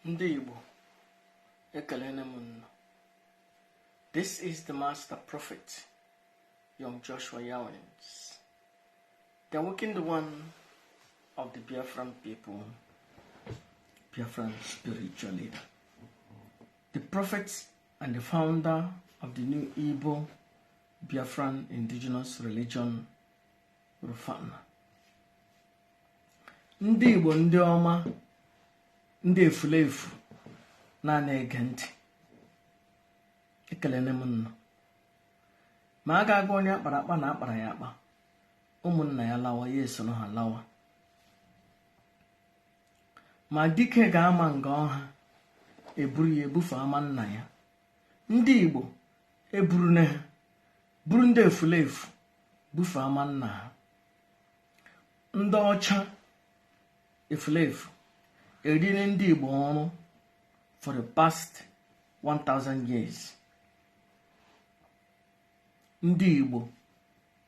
ndị Igbo ekelele m nnụ this is the master prophet young Joshua Yawins the awakened one of the Biafran people Biafran spiritual leader the prophet and the founder of the new Igbo Biafran indigenous religion Rufana ndị igbo ndị ọma ndị efulefu na-ana ege ntị ekelele m ụnụ ma a ga-agwa onye akpara akpa na akpara ya akpa ụmụnna ya lawa ya esoro ha lawa ma dike ga-ama nga ọ ha eburu ya bufe ama nna ya ndị igbo eburune ha buru ndị efulefu bufe ama nna ha ndị ọcha efulefu eriri ndị Igbo ọrụ for the past 1000 years ndị Igbo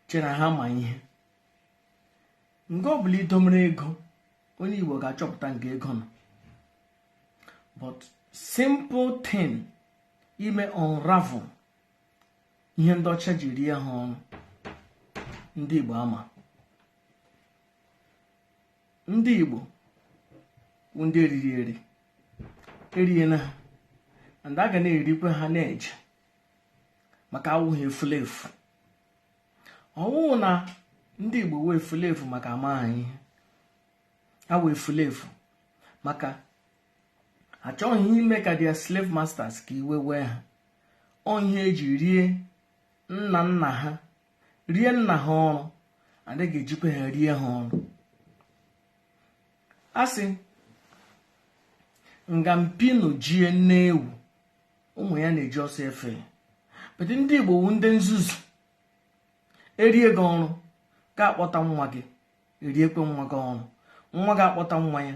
chere ha ma ihe nga ọbụla idomere ego onye Igbo ga-achọpụta nga ego nọ but simple thing ime unravel ihe ndị ọcha ji rie ha ọrụ ndị Igbo ama ndị Igbo bụ ndị eriri eri eriene ha and a ga na-erikwa ha na-eje maka awụ ha efulefu ọ wụ na ndị Igbo wụ efulefu maka ama ha ihe ha wụ efulefu maka achọghị ime ka their slave masters ka iwe wee ha ọ ihe eji rie nna nna ha rie nna ha ọrụ and a ga-ejikwa ha rie ha ọrụ asị nga mpi nọ jie nne ewu ụmụ ya na-eji ọsọ efe ya but ndị igbo wu ndị nzuzu erie gị ọrụ gị akpọta nwa gị eriekwe nwa gị ọrụ nwa gị akpọta nwa ya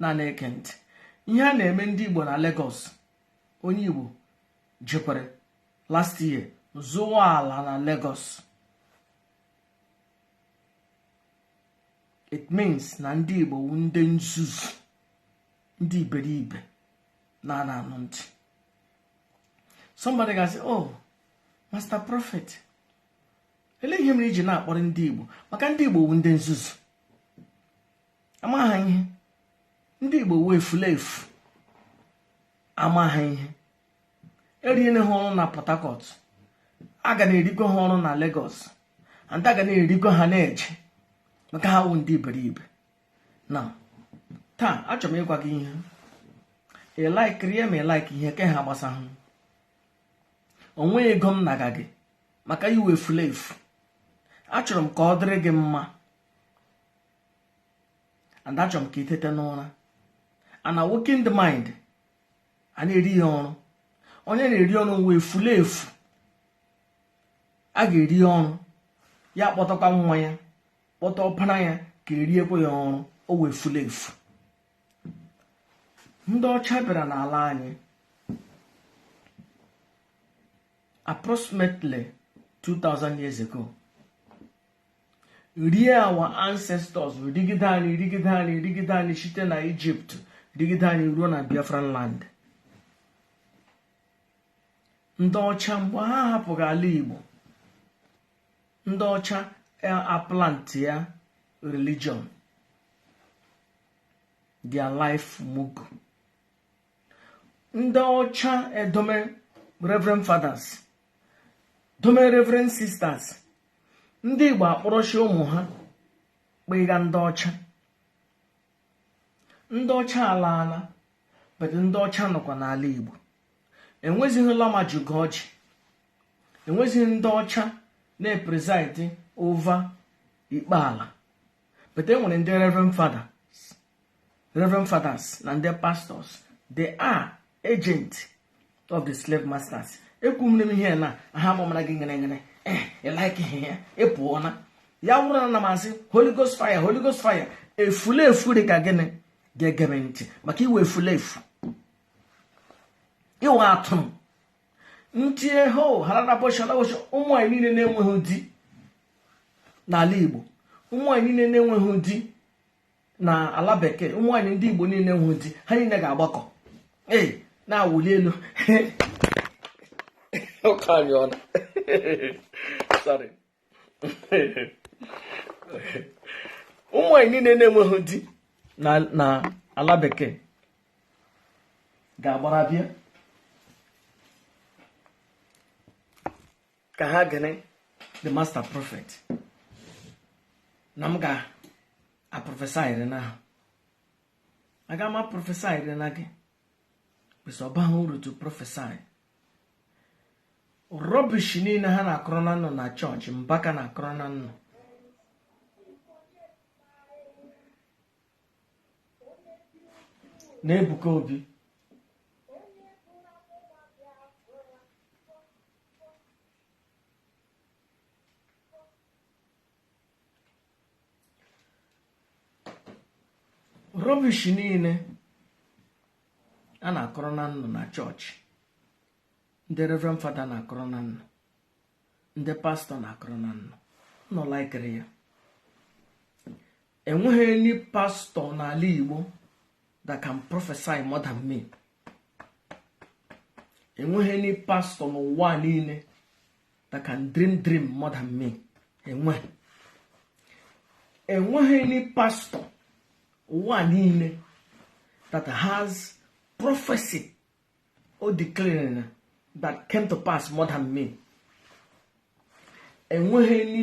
na na-ege ntị ihe a na-eme ndị Igbo na Lagos onye Igbo jikwere last year zụwa ala na Lagos it means na ndị Igbo wu ndị nzuzu ndị iberibe na-ana anụ ntị somebody ga-asị oh master prophet ele ihe mere iji na-akpọrị ndị Igbo maka ndị Igbo wu ndị nzuzu ama ha ihe ndị igbo wụ efulefu ama ha ihe eriele ha ọrụ na port harcourt a ga na-erikọ ha ọrụ na lagos and a ga na-erikọ ha na-eje maka ha wụ ndị iberibe na taa achọrọ m ịgwa gị ihe ị likeri ya ma ị like ihe ke ha gbasa ha onwe ego m na-agwa gị maka ị wụ efulefu achọrọ m ka ọ dịrị gị mma and achọrọ m ka i teta n'ụra and awaken the mind a na-eri ya ọrụ onye a na-eri ọrụ ọ wụ efulefu a ga-eri ya ọrụ ya kpọtakwa nwa ya kpọta ọpara ya ka e riekwa ya ọrụ ọ wụ efulefu ndị ọcha bịara n'ala anyị approximately 2000 years ago rie our ancestors rigide anyị rigide anyị rigide anyị site na Egypt rigide anyị ruo na biafran land ndị ọcha mgbe ha hapụga ala igbo ndị ọcha e, aplantia religion their life mugu ndị ọcha edome reverend fathers dome reverend sisters ndị Igbo akpọrọchi ụmụ ha kpega ndị ọcha ndị ọcha alaala but ndị ọcha nọkwa n'ala Igbo enwezighị lama juga ọjị enwezighị ndị ọcha na-epreside over ikpe ala but enwere ndị reverend father reverend fathers na ndị pastors they are agent of the slave masters ekwu m n'ime ihe na ha mụmara gị ngere ngere eh, ị like ihe ya ị pụọ na ya wụrụ na-asị holy ghost fire holy ghost fire efulefu dị ka gị ga-ege m ntị maka ị wụ efulefu ị wụ atụrụ ndị eho hararaboshalawosha ụmụ anyị niile na-enweghị di n'ala igbo ụmụ anyị niile na-enweghị di na ala bekee ụmụ nwaanyị ndị igbo niile na-enweghị di ha niile ga-agbakọ ee na-awụli elu ụka anyị ọnụ sorry ụmụ nwaanyị niile na-enweghị di na ala bekee ga-agbara bịa ka ha gere the master prophet na m ga-aprophesyri na ha aga m aprophesyri na gị cos ọ baghị uru to prophesy rubbish niile ha na-akọrọ na unu na church mbaka na-akọrọ na unu na ebuka obi rubbish niile a na-akọrọ ụnụ na church ndị reverend father na-akọrọ ụnụ ndị pastor na-akọrọ ụnụ nọ lekiri ya enweghị any pastor n'ala igbo that can prophesy more than me enweghị any pastor n'ụwa niile that can dream dream more than me enweghị enweghị any pastor n'ụwa niile that has prophesy or declare that came to pass more than me enweghị ndị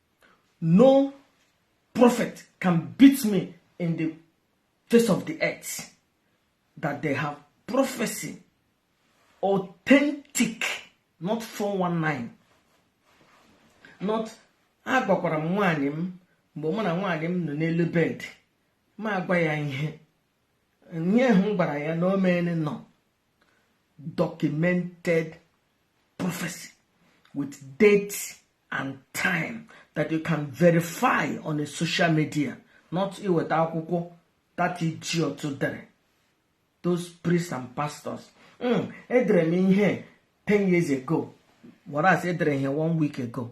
no prophet can beat me in the face of the earth that they have prophesy authentic not 419 not agwakwara m nwaanyị m mgbe mụ na nwaanyị m nọ n'elu bed mụ agwa ya ihe ihe ahụ m gwara ya na o meele no documented prophecy with date and time that you can verify on a social media not iweta akwụkwọ that idiot dere those priests and pastors hmm, edere m ihe 10 years ago whereas edere ihe one week ago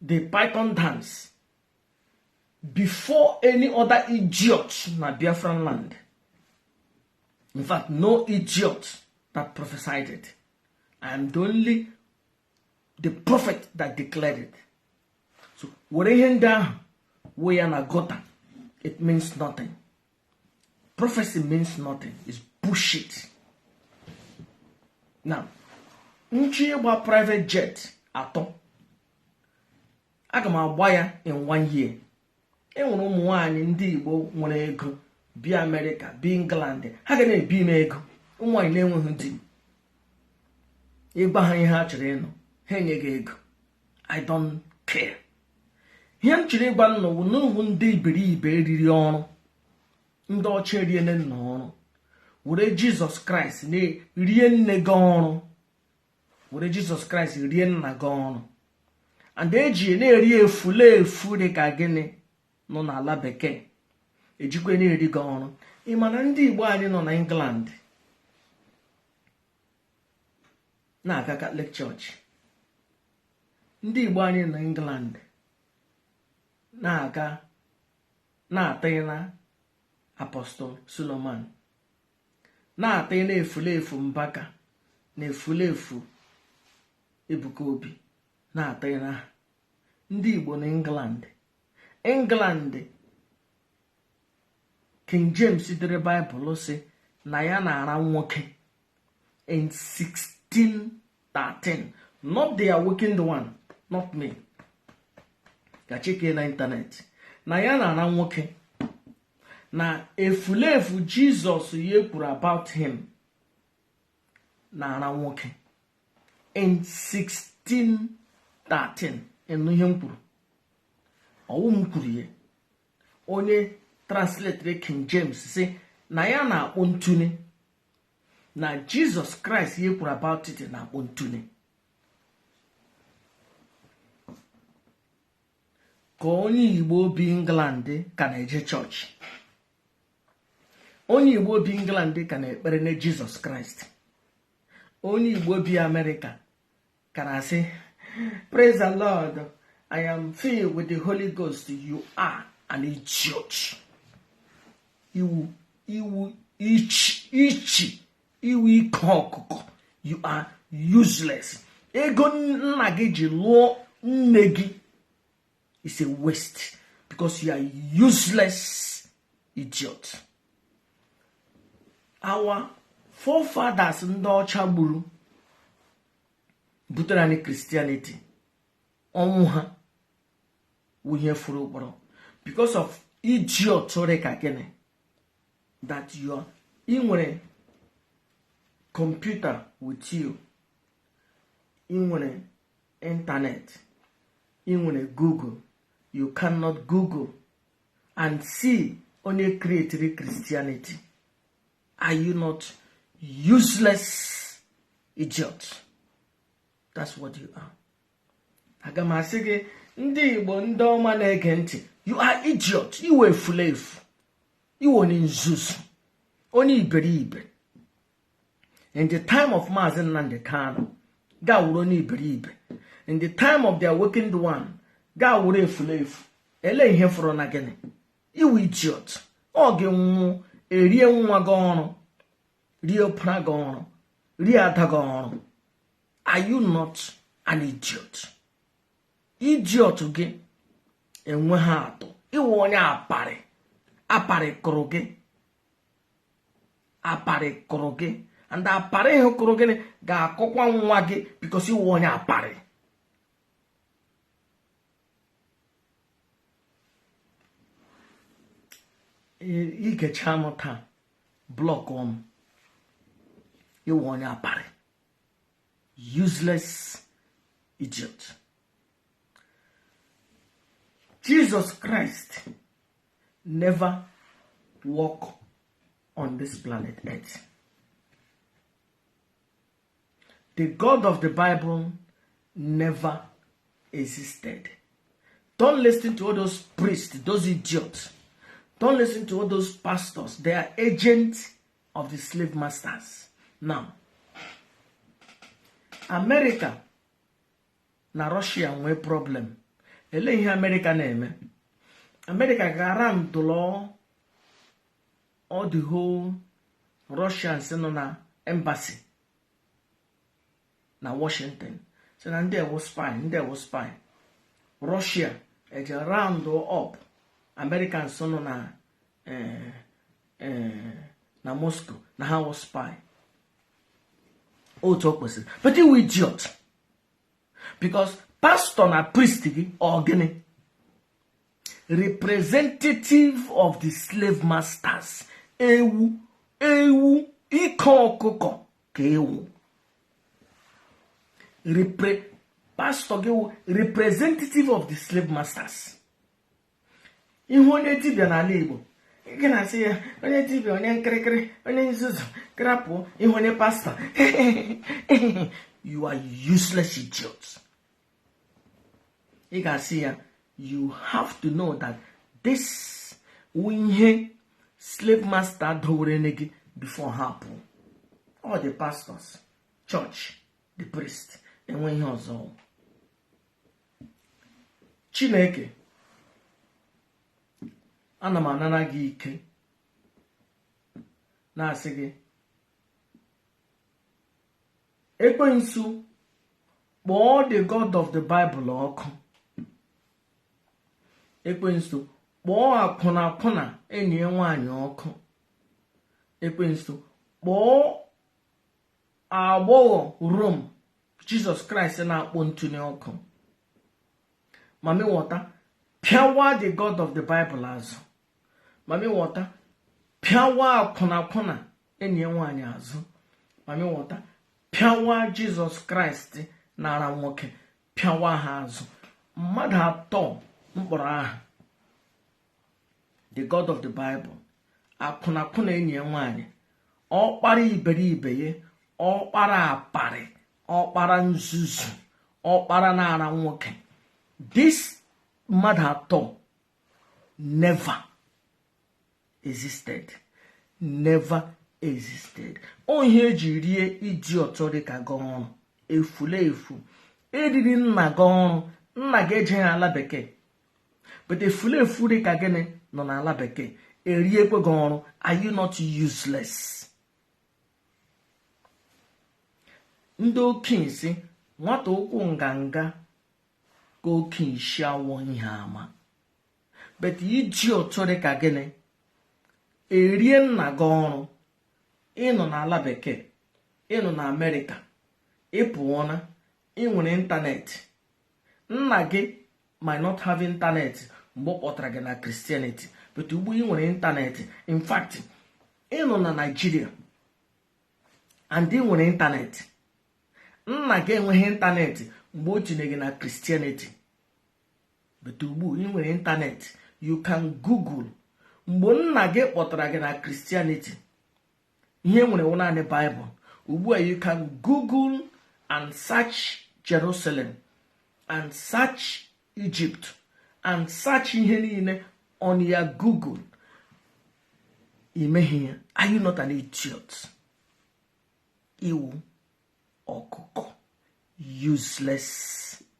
the python dance before any other idiot na biafran land in fact no idiot that prophesied it i am the only the prophet that declared it so were ihe ndị ahụ wee ya na gota it means nothing prophecy means nothing is bullshit now m chọọ ịgba private jet atọ aga m agba ya in one year e nwere ụmụ nwanyị ndị igbo nwere ego bi amerịka bi england ha ga na-ebi m ego ụmụ nwanyị na-enweghị di ị gwa ha ihe ha chọrọ ịnụ ha enye gị ego i don't care ihe m chọrọ ịgwa ụnụ wụ na ụnụ wụ ndị iberibe e riri ọrụ ndị ọcha eriele ụnụ ọrụ were jizọs kraịst rie nne gị ọrụ were jizọs kraịst rie nna gị ọrụ and e ji na-eri efulefu dị ka gịnwa nọ n'ala bekee e jikwa na-eri gị ọrụ ị ma na ndị igbo anyị nọ na england na-aga catholic church ndị igbo anyị na england na-aga na-atịghị na apostle suleman na-atịghị na efulefu mbaka na efulefu ebuka obi na-atịghị na ha ndị igbo na england england king james dere baịbụl sị na ya na-ara nwoke in 1613 not the awakened one not me ga checkie na internet na ya na-ara nwoke na efulefu jizọs ya kwuru about him na-ara nwoke in 1613 ị nụ ihe m kwuru ọ wụ m kwuru ya onye translator king james si na ya na-akpọ ntu na jizọs kraịst ihe kwuru about it na-akpọ ntụnye ka onye igbo bi england ka na-eje chọọchị onye igbo bi england ka na-ekpere na jizọs kraịst onye igbo bi amerịka ka na-asị praise the lord i am filled with the holy ghost you are an idiot ị wụ ị wụ ichi ichi ị wụ ike ọkụkọ you are useless ego nna gị ji lụọ nne gị is a waste because you are useless idiot our forefathers ndị ọcha gburu butere anyị christianity ọnwụ ha wụ ihe furu ụkpọrọ because of idiot rị ka gịnị that you ị nwere kọmputa with you ị nwere ịntanet ị nwere google you cannot google and see onye creatiri christianity are you not useless idiot that's what you are aga m asị gị ndị igbo ndị ọma na-ege ntị you are idiot ị wụ efulefu ị wụ onye nzuzu onye iberibe in the time of Mazi Nnamdi Kanu ga-awụrụ onye iberibe in the time of the awakened one ga-awụrụ efulefu ele ihe fọrọ na gịnị ị wụ idiot ọ gị nwụọ e ree nwa gị oru ree ọpara gị oru ree ada gị oru are you not an idiot idiot gị enweghị atụ ị wụ onye aparị aparị kụrụ gị aparị kụrụ gị and aparị ahụ kụrụ gị ga-akụkwa nwa gị because ị wụ onye aparị i gechaa nụ taa blọkụọ m ị wụ onye aparị useless idiot Jesus Christ never walk on this planet earth The God of the Bible never existed. Don't listen to all those priests, those idiots. Don't listen to all those pastors. They are agents of the slave masters. Now, America na Russia nwee problem. Ele ihe America na-eme? America ga-ara ndụlọ all the whole Russians nọ na embassy na Washington sị na ndị a wụ spy ndị a wụ spy Russia eje round up Americans nọ na eh, eh, na Moscow na ha wụ spy otu o kwesịrị but ị wụ idiot because pastọ na priest gị ọ gịnị representative of the slave masters ewu ewu ike ọkụkọ ka ị wụ repre pastọ gị wụ representative of the slave masters ị hụ onye dibịa n'ala igbo gị na-asị ya onye dibịa onye nkịrịkịrị onye nzuzu crap ị hụ onye pastọ you are useless idiots. ị ga-asị ya you have to know that this wụ ihe slave master dowere nye gị before ha pụọ all the pastors church the priest enwe ihe ọzọ chineke ana m anara gị ike na-asị gị ekwensu kpọọ the god of the bible ọkụ ekwensu kpọọ akwụnakwụna enyi ya nwaanyị ọkụ ekwensu kpọọ agbọghọ rom jizọs kraịst na-akpọ ntu nye ọkụ mami wọta pịawa the god of the bible azụ mami wọta pịawa akwụnakwụna enyi ya nwaanyị azụ mami wọta pịawa jizọs kraịst na-ara nwoke pịawa ha azụ mmadụ atọ m kpọrọ aha the god of the bible akwụnakwụna enyi ya nwaanyị ọkpara iberibe ya ọkpara aparị ọkpara nzuzu ọkpara na-ara nwoke this mmadụ atọ never existed never existed ọ ihe e ji rie idiot dị ka gị ọrụ efulefu e riri nna gị ọrụ nna gị ejeghị ala bekee but efulefu dị ka gịnị nọ n'ala bekee eriekwe gị ọrụ are you not useless ndị okenye sị nwata ụkwụ nganga ka okenye isi awọ ihe ama but idiot dị ka gịnị erie nna gị ọrụ ị nọ n'ala bekee ị nọ na amerịka ị pụọna ị nwere ịntanetị nna gị might not have ịntanetị mgbe ọ kpọtara gị na christianity but ugbu ị nwere ịntanetị in fact ị nọ na naịjirịa and ị nwere ịntanetị nna gị enweghị ịntanetị mgbe o tinye gị na christianity but ugbu ị nwere internet you can google mgbe nna gị kpọtara gị na Christianity ihe e nwere wụ naanị Bible ugbu a you can google and search Jerusalem and search Egypt and search ihe niile on your google i meghị ya are you not an idiot ị wụ ọkụkọ useless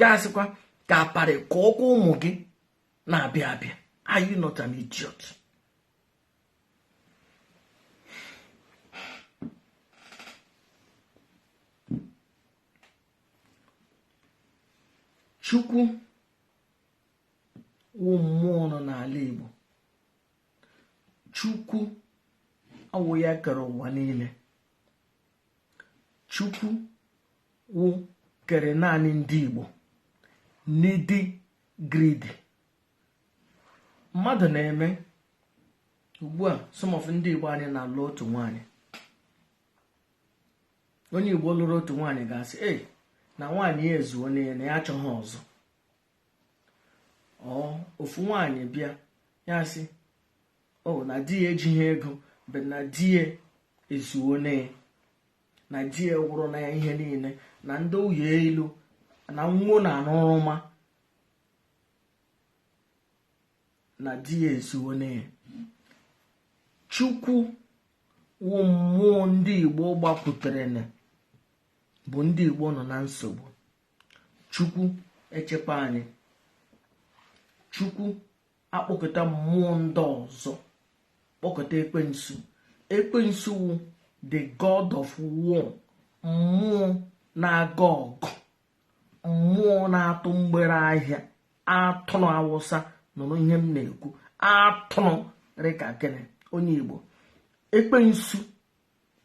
gasịkwa ka aparị ka ọkwa ụmụ gị na-abịa abịa are you not an idiot chukwu wụ mmụọ nọ n'ala igbo chukwu ọ wụ ya kere ụwa niile chukwu wụ kere naanị ndị igbo n'ịdị greedy mmadụ na-eme ugbu a some of ndị igbo anyị na-alụ otu nwaanyị onye igbo lụrụ otu nwaanyị ga-asị e na nwaanyị ya ezuona ya na ya achọghị ọzọ or ofu nwaanyị bịa ya sị o na di ya ejighị ego but na di ya ezuona ya na di ya wụrụna ya ihe niile na ndị ụyọ elu na nwo na anụrụma na di ya ezuona ya chukwu wụ mmụọ ndị igbo gbapụtara na bụ ndị igbo nọ na nsogbu chukwu echekwa anyị chukwu akpọkọta mmụọ ndị ọzọ kpọkọta ekwensu ekwensu wụ the god of war mmụọ na-aga ọgụ mmụọ na-atụ mgbere ahịa atụrụ awụsa nụrụ ihe m na-ekwu atụrụ rịka gị onye igbo ekwensu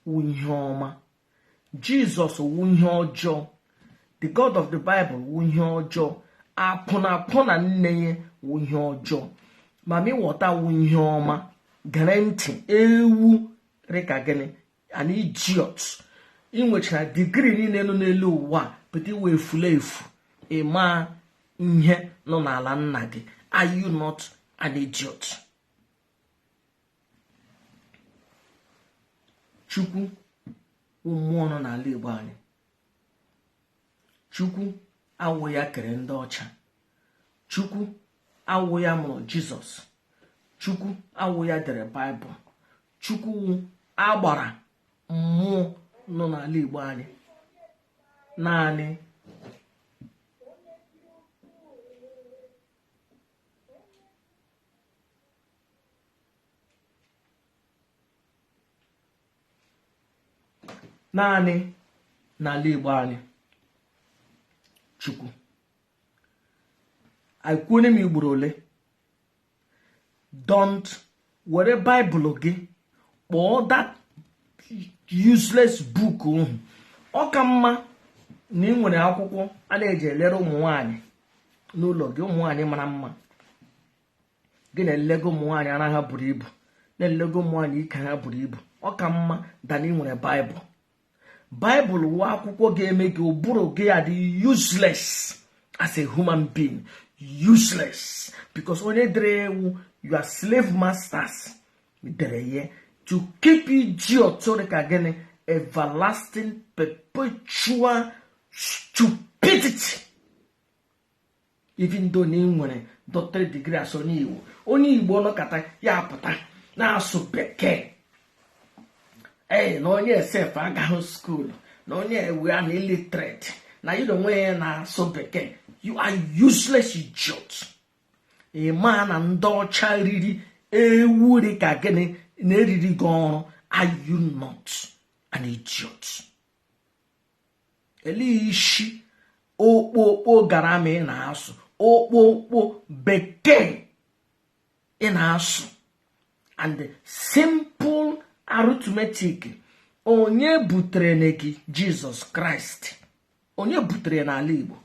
wụ ihe ọma jesus wụ ihe ọjọọ the god of the bible wụ ihe ọjọọ akwụnakwụna nne ya wụ ihe ọjọọ mami wọta wụ ihe ọma gere ntị ewu rịka gị an idiot ị nwechara degree niile nọ n'elu ụwa but ị wụ efulefu ị maghị ihe nọ n'ala nna gị are you not an idiot chukwu wụ mmụọ nọ n'ala igbo anyị chukwu awụ ya kere ndị ọcha chukwu awụ ya mụrụ jizọs chukwu awụ ya dere baịbụl chukwu wụ agbara mmụọ nọ n'ala igbo anyị naanị naanị n'ala Igbo anyị Chukwu anyị kwuone m igboro ole don't were baịbụl gị kpọọ that useless book ọkụ ọ ka mma na ị nwere akwụkwọ a na-eji elere ụmụ nwanyị n'ụlọ gị ụmụ nwanyị mara mma gị na-elego ụmụ nwaanyị ara ha buru ibu na-elego ụmụ nwaanyị ike ha buru ibu ọ ka mma than ị nwere baịbụl baịbụl wụ akwụkwọ ga-eme gị ụbụrụ gị adị useless as a human being useless because onye dere ya wụ your slave masters dere ya to keep idiot rị ka gị in everlasting perpetual stupidity even though na ị nwere doctorate degree as onye igbo onye igbo nọkata ya pụta na-asụ bekee ee na onye a sef agaghị skuulu na onye a wụ an illiterate na ya onwe ya na-asụ bekee you are useless idiot ị maa na ndị ọcha riri ewu dị ka gị na-eriri gị ọrụ are you not an idiot elee isi okpokpo grammar ị na-asụ okpokpo bekee ị na-asụ and simple arithmetic onye butere nna gị jizọs kraịst onye butere n'ala igbo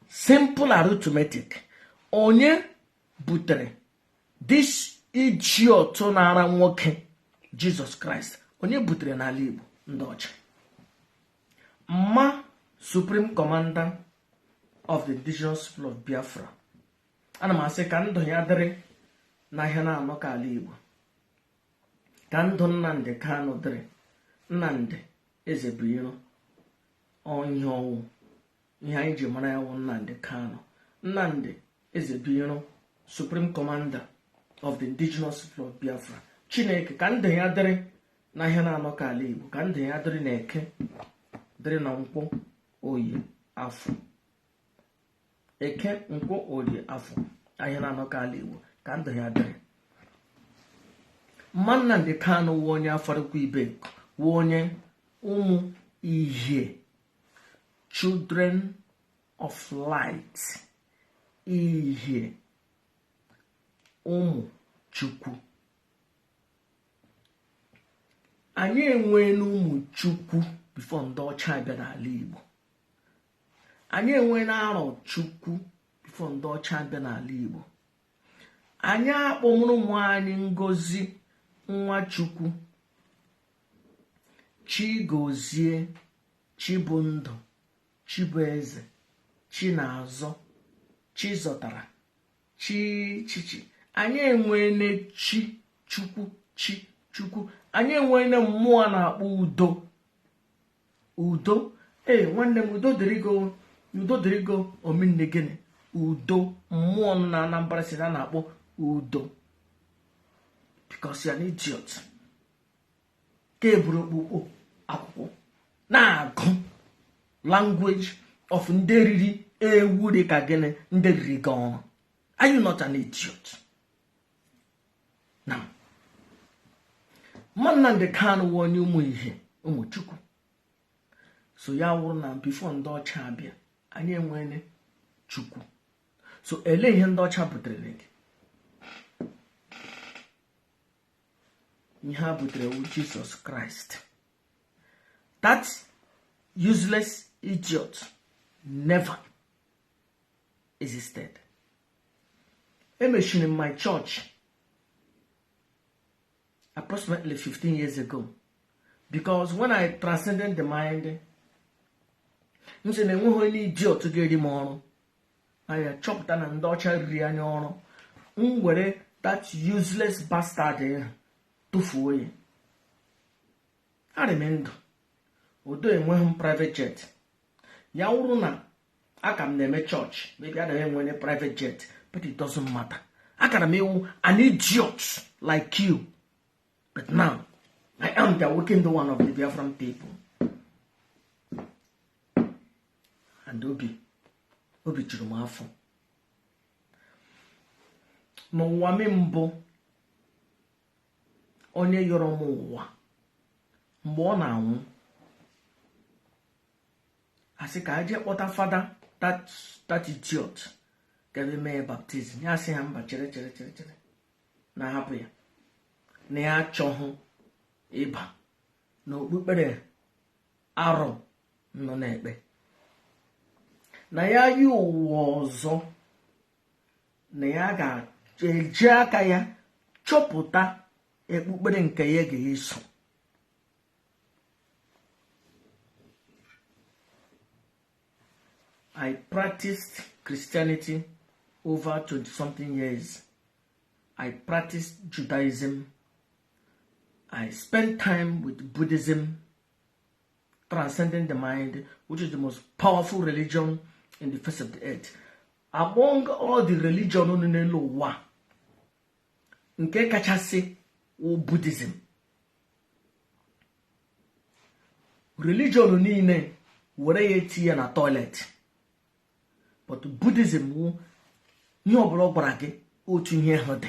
simple arithmetic onye butere this idiot na-ara nwoke jizọs kraịst onye butere n'ala igbo ndị ọcha mma supreme commander of the indigenous people of biafra ana m asị ka ndụ ya dịrị n'ahịa naanọ ka ala igbo ka ndụ nnamdị kanụ dịrị nnamdị ezebuiro ihe ọ wụ ihe anyị ji mara ya wụ nnamdị kanụ nnamdị eze binyere supreme commander of the indigenous people of biafra chineke ka ndụ ya dịrị na ahịa na-anọ ka ala igbo ka ndụ ya dịrị na eke dịrị na nkwọ oye afọ eke nkwọ oye afọ ahịa na-anọ ka ala igbo ka ndụ ya dịrị mma nnamdi kanu wụ onye afaraukwu ibeku onye ụmụ ihe children of light ihe ụmụ chukwu anyị enweena ụmụ chukwu before ndị ọcha abịa n'ala igbo anyị enweena arọchukwu before ndị ọcha abịa n'ala igbo anyị akpọmụrụ ụmụ anyị ngozi nwachukwu chigozie chibụndụ Chibueze, Chinazọ, Chizọtara, Chi Chichi. Anyị enweele Chi Chukwu, Chi Chukwu. Anyị enweele mmụọ a na-akpọ udo. Udo. Ee, nwanne m udo dịrị gị o. udo dịrị gị o, ọ mean gịnị? Udo. Mmụọ nọ na Anambra State a na-akpọ udo. Because you're an idiot. ka i buru okpukpo akwụkwọ na-agụ language of ndị riri ewu dị ka gị ndị riri gị oru anyị nọcha na idiot na Nnamdi Kanu wụ onye ụmụ ihe ụmụ Chukwu so ya wụrụ na before ndị ọcha abịa anyị enwele Chukwu so ele ihe ndị ọcha butere gị ihe ha butere wụ jesus christ that useless idiot never existed emechiri my church approximately 15 years ago because when i transcended the mind m sị na enweghị onye idiot ga-eri m oru anyị achọpụta na ndị ọcha riri anyị oru m were that useless bastard ahụ tụfuo ya arị m ndụ udo enweghị m private jet ya wụrụ na a ka m na-eme church maybe a na-enwe onye private jet but it doesn't matter akara m ịwụ an idiot like you but now I am the awakened one of the Biafran people and obi obi juru m afọ n'ụwa m mbụ onye yọrọ m ụwa mgbe ọ na-anwụ a sị ka e je kpọta fada that idiot ga-abịa mee ya baptism ya asị ha mba chere chere chere chere na hapụ ya na ya achọghị ịba na okpukpere arụ unu na-ekpe na ya yọọ ụwa ọzọ na ya ga-eji aka ya chọpụta okpukpere nke ya ga-eso I practiced Christianity over 20 something years. I practiced Judaism. I spent time with Buddhism. transcending the mind which is the most powerful religion in the face of the earth among all the religion nọ n'elu ụwa nke kachasị wụ buddhism religion niile were ya tinye na toilet but buddhism wụ ihe ọbụla ọ gwara gị otu ihe ahụ dị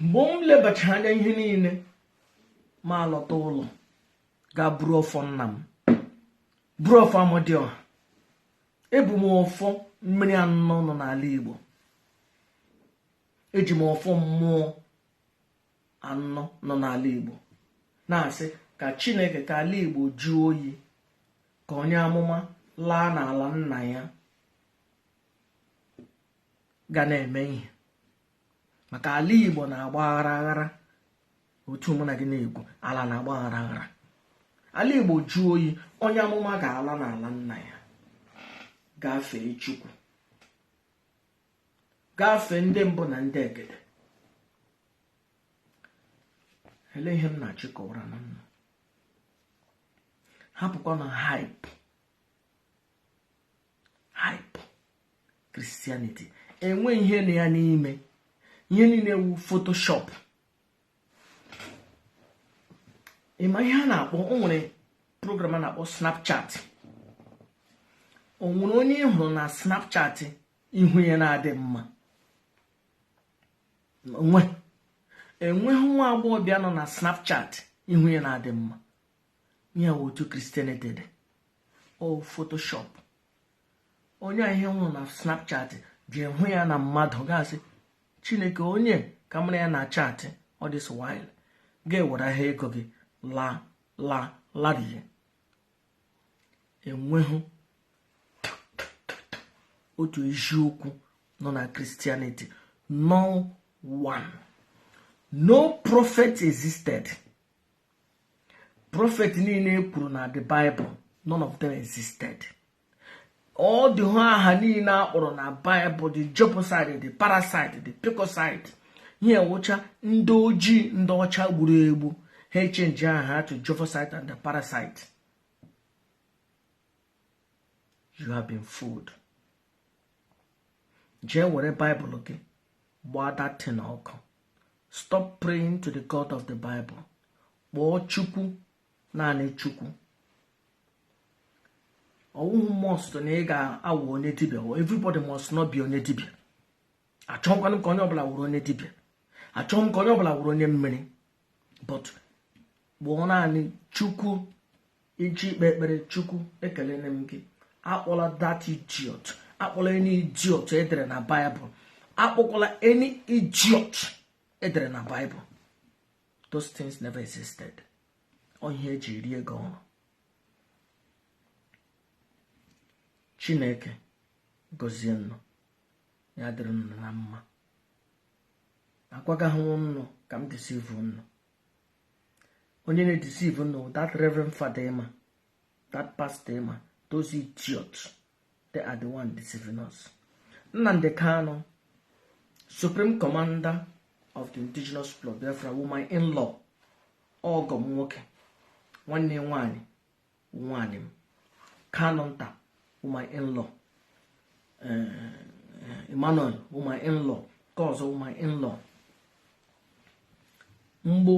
mgbe m lebachara anya ihe niile m alọta ụlọ gaa buru ọfọ nna m buru ọfọ amadiọha ebu m ọfọ mmiri anọ nọ n'ala igbo eji m ọfọ mmụọ anọ nọ n'ala igbo na-asị ka chineke ka ala igbo jụọ oyi ka onye amụma laa n'ala nna ya gaa na-eme ihe maka ala igbo na-agba aghara aghara otu mụ na gị na-ekwu ala na-agba aghara aghara ala igbo jụọ oyi onye amụma ga-ala n'ala nna ya gaa fee chukwu gaa fee ndị mbụ na ndị egede ele ihe m na-achọ ịkọwara na nna hapụkwanụ hype hype Christianity enwe ihe nọ ya n'ime ihe niile wụ photoshop ị ma ihe a na-akpọ o nwere program a na-akpọ snapchat o nwere onye ị hụrụ na snapchat ihu ya na-adị mma enweghị nwa agbọghọbịa nọ na snapchat ihu ya na-adị mma ya wụ otu Christianity dị ọ photoshop onye a ihe nwụrụ na snapchat ji hụ ya na mmadụ gasị chineke onye ka mara ya na chatị all this while ga-ewere ahịa ego gị la la larie enweghị otu eziokwu nọ na Christianity no one no prophet existed prophet niile e kwuru na the Bible none of them existed ọ dịhụ aha niile a kpọrọ na Bible the Jebusite the parasite the picosite ihe wụcha ndị ojii ndị ọcha gburu egbu ha echenji aha to Jebusite and the parasite you have been fooled jee were baịbụl gị gbaa that thing ọkụ stop praying to the god of the bible kpọọ chukwu naanị chukwu ọwụhụ must na ị ga-awụ onye dibia everybody must not be onye dibia achọghịkwanụ ka onye ọbụla wụrụ onye dibia achọghị m ka onye ọbụla wụrụ onye mmiri but kpọọ naanị chukwu iji ikpe ekpere chukwu ekelene m gị akpọla that idiot akpọla any idiot edere na baịbụl akpọkwala any idiot edere na baịbụl those things never existed ọ ihe eji eri ego ọrụ chineke gọzie nnụ ya dịrị nnụ na mma agwagaghị nnụ ka m deceive nnụ onye na-edeceive nnụ that reverend father ma that pastor ma those idiots they are the one deceiving us Nnamdi Kanu supreme commander of the indigenous people of Biafra wụ my in-law ọgọ m nwoke nwanne nwanyị nwaanyị m Kanunta wụ my in-law eh, Emmanuel wụ my in-law nke ọzọ wụ my in-law mgbe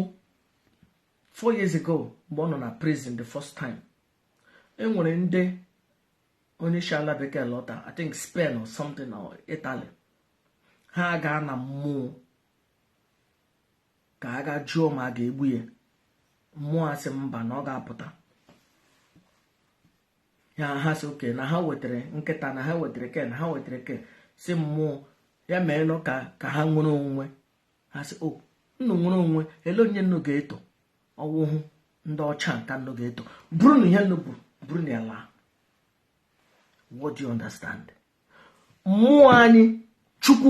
four years ago mgbe ọ nọ na prison the first time enwere ndị onye si ala bekee lọta i think spain or something or italy ha gaa na mmụọ ka a gaa jụọ ma a ga-egbu ya mmụọ asị mba na ọ ga-apụta ya ha sị okay na ha wetara nkịta na ha wetara ke na ha wetara ke sị mmụọ ya meenụ ka ha nwere onwe ha sị o nnu nwere onwe ele onye nnu ga-eto ọwụhụ ndị ọcha nka nnu ga-eto burunụ ihe nnu bu burunụ ya laa what do you understand mmụọ anyị chukwu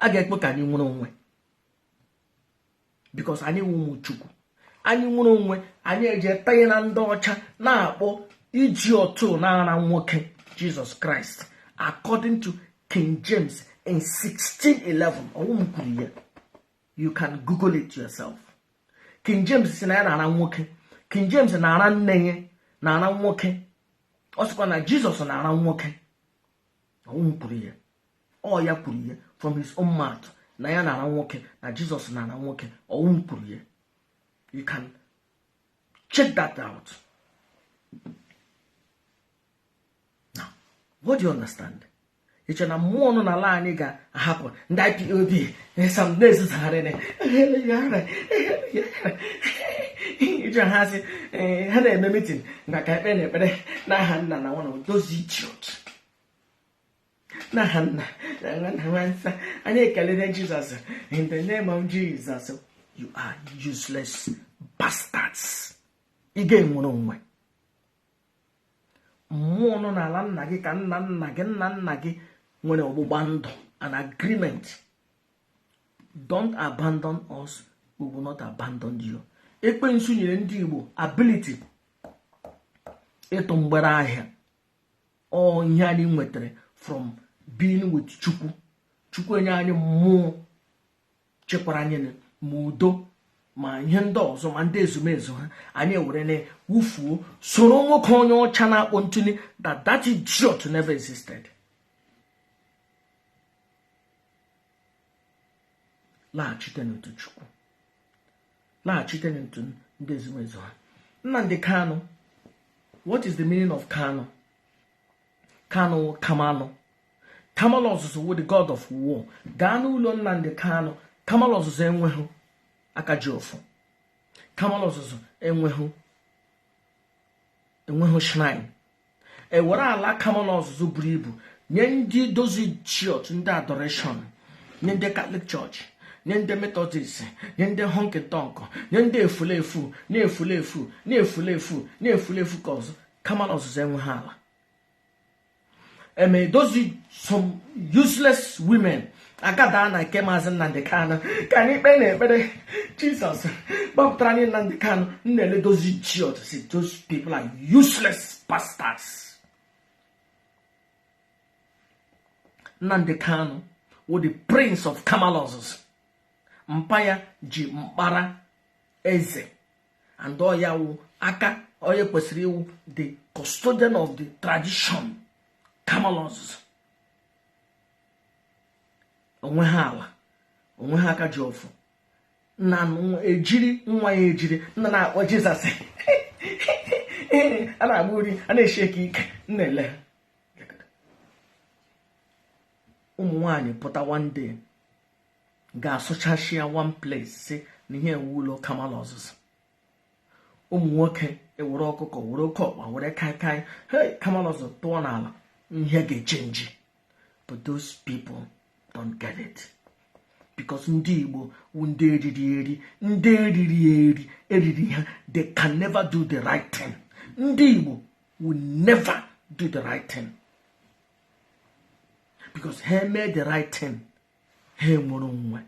a ga-ekwe ka anyị nwere onwe because anyị wụ ụmụ chukwu anyị nwere onwe anyị eje tanye na ndị ọcha na-akpọ iji otu na-ara nwoke jesus christ according to king james in 1611 ọ wụ m kwuru ya you can google it yourself king james sị na ya na-ara nwoke king james na-ara nne ya na-ara nwoke ọ sịkwa na jesus na-ara nwoke ọ wụ m kwuru ya ọ ya kwuru ya from his own mouth na ya na-ara nwoke na jesus na-ara nwoke ọ wụ m kwuru ya you can check that out now what do you understand i che na mmụọ nọ n'ala anyị ga-ahapụ ndị ipob some na-ezuzugharị ije ha sị eh, ha na-eme mitin na ka ekpere na ekpere n'aha nna na nwa na odozi idiot n'aha nna na nwa na mmụọ nsọ anyị ekelere jesus in the name of jesus you are useless bastards ị ga-enwere onwe mmụọ nọ n'ala nna gị ka nna nna gị nna nna gị nwere ọgbụgba ndụ an agreement don't abandon us we will not abandon you ekwensu nyere ndị igbo ability ịtụ mgbere ahịa ọ ihe anyị nwetara from being with chukwu chukwu enye anyị mmụọ chekwara anyị ma udo ma ihe ndị ọzọ ma ndị ezumezu ha anyị were na wufuo soro nwoke onye ọcha na-akpọ ntụli that that idiot never existed laghachite n'otu chukwu laghachite n'otu ndị ezumezu ha Nnamdi Kanu what is the meaning of Kanu Kanu Kamalụ Kamalụ ọzụzụ wụ the god of war gaa n'ụlọ Nnamdi Kanu Kamalụ ọzụzụ enweghị aka ji ọfọ Kamalụ ọzụzụ enweghị enweghị shrine e were ala kamalụ ọzụzụ buru ibu nye ndị dozi church ndị adoration nye ndị catholic church nye ndị methodist nye ndị honky tonk nye ndị efulefu na-efulefu na-efulefu na-efulefu ka ọzọ kamalụ ọzụzụ enweghị ala eme edozi some useless women agada na nke maazị Nnamdi Kanu ka anyị kpee na ekpere Jesus gbapụtara anyị Nnamdi Kanu m na-eledozi ji ọtụsị those people are useless pastors Nnamdi Kanu wụ the prince of Kamalus mpa ya ji mkpara eze and ọ ya wụ aka onye kwesịrị ịwụ the custodian of the tradition kamalọs onwe ha ala onwe ha aka ji ọfọ na ejiri nwa ya ejiri nna na-akpọ jizọs a na-agba uri a na-eshi ike ike na-ele ụmụ nwanyị pụta one day ga-asụchachi ya one place si na ihe ewu ụlọ kamalu ọzụzụ ụmụ nwoke ewere ọkụkọ were oke ọkpa were kaikai hei kamalu ọzọ tụọ n'ala ihe ga-echenji but those people don't get it because ndị igbo wu ndị eriri eri ndị eriri eri eriri ha they can never do the right thing ndị igbo will never do the right thing because ha mee the right thing ha enwere onwe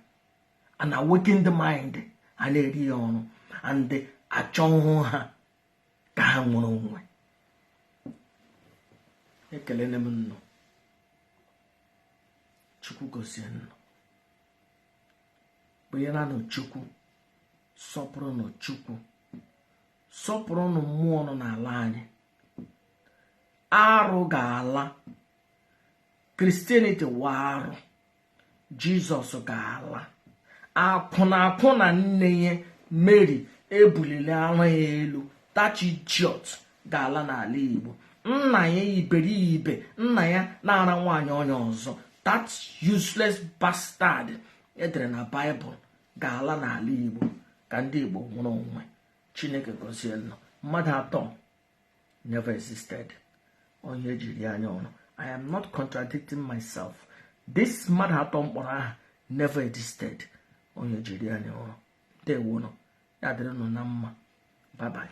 an awakened mind a na-eri ya oru and achọhụ ha ka ha nwere onwe ekelele m ụnụ chukwu gọzie ụnụ kpenyeranụ chukwu sọpụrụnụ chukwu sọpụrụnụ mmụọ nọ n'ala anyị arụ ga-ala christianity wụ arụ jizọs ga-ala akwụna akwụna nne ya mary ebulili ara ya elu that idiot ga-ala n'ala igbo nna ya iberibe nna ya na-ara nwaanyị onye ọzọ that useless bastard edere na baịbụl ga-ala n'ala igbo ka ndị igbo nwere onwe chineke gọzie ụnụ mmadụ atọ never existed onye e ji eri anyị oru i am not contradicting myself this mmadụ atọ m kpọrọ aha never existed onye e ji eri anyị oru ndewonụ ya dịrị ụnụ na mma bye bye